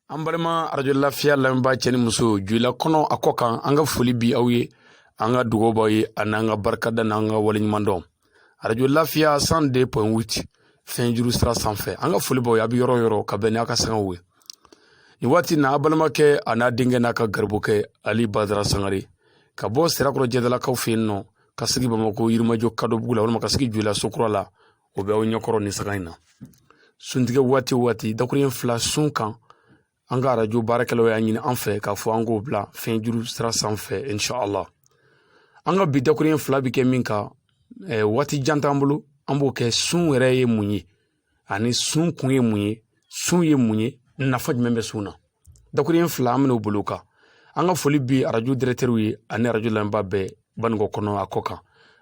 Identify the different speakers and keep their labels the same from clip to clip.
Speaker 1: an balima arajo lafiya lamɛnbaa cɛ ni muso joyila kɔnɔ a kɔ kan an ka foli bi aw ye an ka dugawu b'aw ye an'an ka barikada n'an ka waleɲumandɔn arajo lafiya cent deux point huit fiɲɛ juru sira sanfɛ an ka foli b'aw ye a bɛ yɔrɔ yɔrɔ ka bɛn n'a ka sangaw ye nin waati na a balimakɛ a n'a denkɛ n'a ka garibukɛ ali badara sangare ka bɔ sirakɔrɔ jɛdalakaw fɛ yen nɔ ka sigi bamakɔ yirimajɔ kadɔbugu la walima ka sigi joyila sokura la o bɛ aw ɲɛkɔrɔ nin sanga in na suntigɛ waati o waati dakuruɲɛ fila sun kan an ka arajo baarakɛlaw y'a ɲini an fɛ k'a fɔ an k'o bila fiɲɛ juru sira sanfɛ inshallah an ka bi dakuruɲɛ fila bɛ kɛ min kan eh, waati jan t'an bolo an b'o kɛ sun yɛrɛ ye mun ye ani sun kun ye mun ye sun ye mun ye nafa jumɛn bɛ sun na dakuruɲɛ fila an bɛn'o bolo kan an ka foli bi arajo dirɛkitɛri ye ani arajo lamɛnbaa bɛɛ banikɔ kɔnɔ a kɔ kan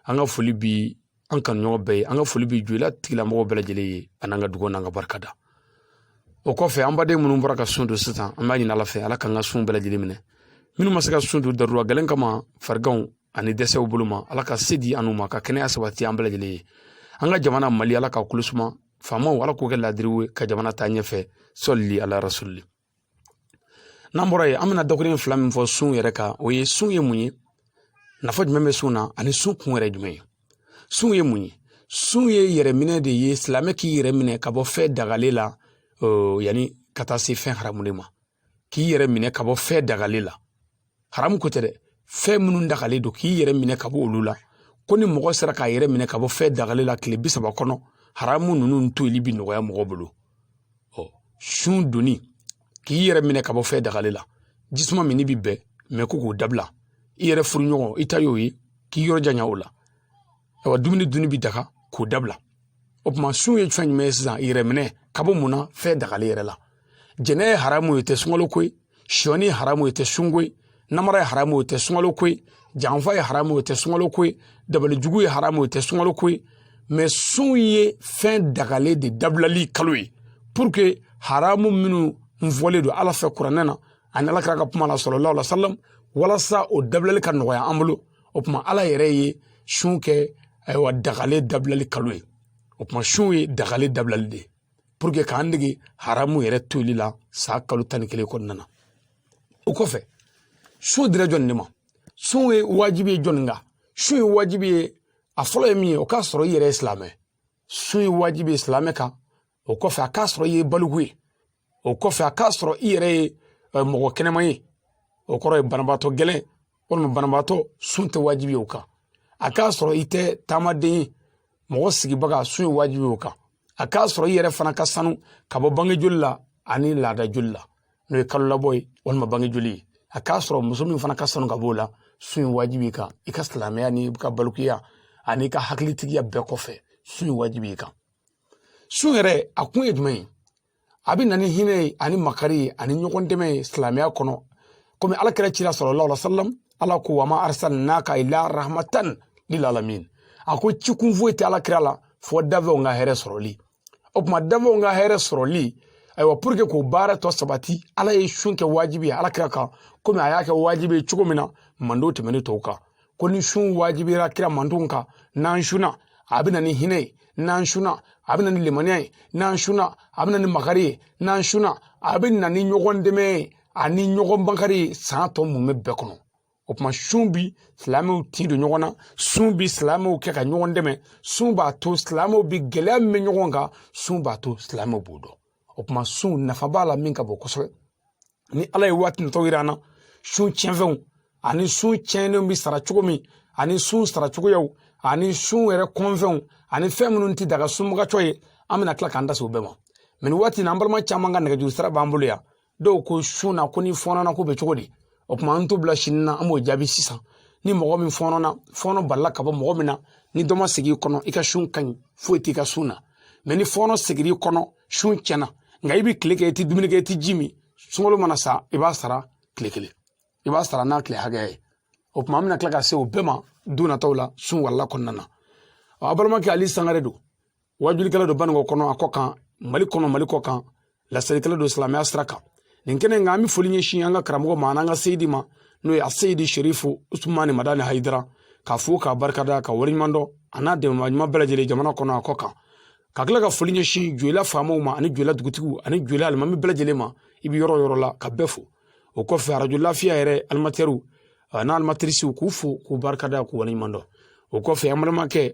Speaker 1: an ka foli bi an kanuɲɔgɔn bɛɛ ye an ka foli bɛ joyila tigilamɔgɔw bɛɛ lajɛlen ye a n'an ka dugawu n'an ka barikada o kɔfɛ an baden minnu bɔra ka sun don sisan an b'a ɲini ala fɛ ala k'an ka sun bɛɛ lajɛlen minɛ minnu ma se ka sun don darura gɛlɛn kama fariganw ani dɛsɛw bolo ma ala ka se di an ma ka kɛnɛya sabati an bɛɛ lajɛlen ye an ka jamana mali ala ka kolo suma faamaw ala k'o kɛ laadiriw ka jamana taa ɲɛfɛ sɔlili ala rasulili n'an bɔra yen an bɛna dakuruɲɛ fila min fɔ sun yɛrɛ kan o ye sun ye mun ye nafa jumɛn bɛ sun na ani sun kun yɛrɛ jumɛn ye sun ye mun ye sun ye yɛrɛminɛ de ye silamɛ k'i yɛrɛ minɛ ka bɔ fɛn dagalen la yanni ka taa se fɛn haramu de ma k'i yɛrɛ minɛ ka bɔ fɛn dagalen la haramu ko tɛ dɛ fɛn minnu dagalen don k'i yɛrɛ minɛ ka bɔ olu la ko ni mɔgɔ sera k'a yɛrɛ minɛ ka bɔ fɛn dagalen la tile bi saba kɔnɔ haramu ninnu toli bi nɔgɔya mɔgɔ bolo ɔ sun donni k'i yɛrɛ minɛ ka bɔ fɛn dagalen la jisuma min bi bɛn mɛ ko k'o dabila i yɛrɛ furuɲɔgɔn i ta y'o ye k'i yɔrɔ janya o la ayiwa dumuni dunni bi daga k'o dabila o tuma sun ye fɛn jumɛn ye sisan yɛrɛ minɛ ka bɔ mun na fɛn dagalen yɛrɛ la jɛnɛ ye haramu ye tɛ sunkalo ko ye sɔni ye haramu ye tɛ sunko ye namara ye haramu ye tɛ sunkalo ko ye janfa ye haramu ye tɛ sunkalo ko ye dabalijugu ye haramu ye tɛ sunkalo ko ye mɛ sun ye fɛn dagalen de dabilali kalo ye pour que haramu minnu fɔlen don ala fɛ kuranɛ na ani ala kira ka kuma la sallallahu alaihi wasallam walasa o dabilali ka nɔgɔya an bolo o tuma ala yɛrɛ ye sun kɛ ayiwa dagalen dabilali kalo ye o tuma sun ye dagalen dabilali de ye pour que k'an dege haramu yɛrɛ toli la saa kalo tan ni kelen kɔnɔna na o kɔfɛ sun dira jɔnni de ma sun ye wajibi ye jɔnni kan sun ye wajibi ye a fɔlɔ ye min ye o k'a sɔrɔ i yɛrɛ ye silamɛ sun ye wajibi ye silamɛ kan o kɔfɛ a k'a sɔrɔ i ye baliku ye o kɔfɛ a k'a sɔrɔ i yɛrɛ ye mɔgɔ kɛnɛma ye o kɔrɔ ye banabaatɔ gɛlɛn walima banabaatɔ sun tɛ wajibi ye o kan a k'a sɔrɔ i tɛ taamaden ye mɔgɔ sigibaga sun ye wajibi ye o kan a k'a sɔrɔ i yɛrɛ fana ka sanu ka bɔ bange joli la ani laada joli la n'o ye kalo labɔ ye walima bange joli ye a k'a sɔrɔ muso min fana ka sanu ka b'o la sun ye wajibi kan i ka silamɛya n'i ka balikuya an'i ka hakilitigiya bɛɛ kɔfɛ sun ye wajibi kan sun yɛrɛ a kun ye jumɛn ye a bɛ na ni hinɛ ye ani makari ye ani ɲɔgɔn dɛmɛ ye silamɛya kɔnɔ komi ala kira cira sallallahu alaihi wasallam ala ko wa ma arsalnaka illa rahmatan lil alamin a ko ci kun foyi tɛ ala kira la fɔ dafɛnw ka hɛrɛ sɔrɔli o tuma dafɛnw ka hɛrɛ sɔrɔli ayiwa pour que k'o baara tɔ sabati ala ye sun kɛ wajibi ye ala kira kan komi a y'a kɛ wajibi ye cogo min na manden tɛmɛnen tɔw kan ko ni sun wajibira kira mandenw kan n'an sunna a bɛ na ni hinɛ ye n'an sunna a bɛ na ni limaniya ye n'an sunna a bɛ na ni makari ye n'an sunna a bɛ na ni ɲɔgɔn dɛmɛ ye ani ɲɔgɔn makari ye san tɔ mumɛ bɛɛ kɔnɔ o tuma sun bi silamɛw tin don ɲɔgɔn na sun bi silamɛw kɛ ka ɲɔgɔn dɛmɛ sun b'a to silamɛw bi gɛlɛya min bɛ ɲɔgɔn kan sun b'a to silamɛw b'o dɔn o tuma sun nafa b'a la min ka bon kosɛbɛ ni ala ye waati natɔ yira an na sun tiɲɛfɛnw ani sun tiɲɛnenw bɛ sara cogo min ani sun sara cogoyaw ani sun yɛrɛ kɔnfɛnw ani fɛn minnu tɛ daga sunbagacɔ ye an bɛna tila k'an da se o bɛɛ ma mɛ nin waati in na an balima caman ka nɛgɛjuru sira b'an bolo yan dɔw ko sun na ko n'i fɔnɔna ko bɛ cogo di o tuma an t'o bila sini na an b'o jaabi sisan ni mɔgɔ min fɔnɔna fɔnɔ balila ka bɔ mɔgɔ min na ni dɔ ma segin i kɔnɔ i ka sun ka ɲi foyi t'i ka sun na mɛ ni fɔnɔ seginna i kɔnɔ sun tiɲɛna nka i bɛ tile kɛ i tɛ dumuni kɛ i tɛ ji min sunkalo mana sa i b'a sara tile kelen i b'a sara n'a tile hakɛya ye o tuma an bɛna tila ka se o bɛɛ ma don nataw la sun walanda kɔnɔna na a balimakɛ ali sangare don wajulikɛla don baninkɔ kɔnɔ a kɔ kan mali kɔnɔ mali kɔ kan laselikɛla don silamɛya sira kan nin kɛnɛ in kan an bɛ foli ɲɛsin an ka karamɔgɔ ma an'an ka seyidi ma n'o ye a seyidi sherifu usumani madani hayidara k'a fo k'a barikada k'a waleɲuman dɔn a n'a dɛmɛbaa ɲuman bɛɛ lajɛlen jamana kɔnɔ a kɔ kan ka tila ka foli ɲɛsin joyila faamaw ma ani joyila dugutigiw ani joyila alimami bɛɛ lajɛlen ma i bɛ yɔrɔ o yɔrɔ la ka bɛɛ fo o kɔfɛ arajo lafiya yɛrɛ animatɛriw n'a animatirisiw k'u fo k'u barikada k'u waleɲuman dɔn o kɔfɛ an balimakɛ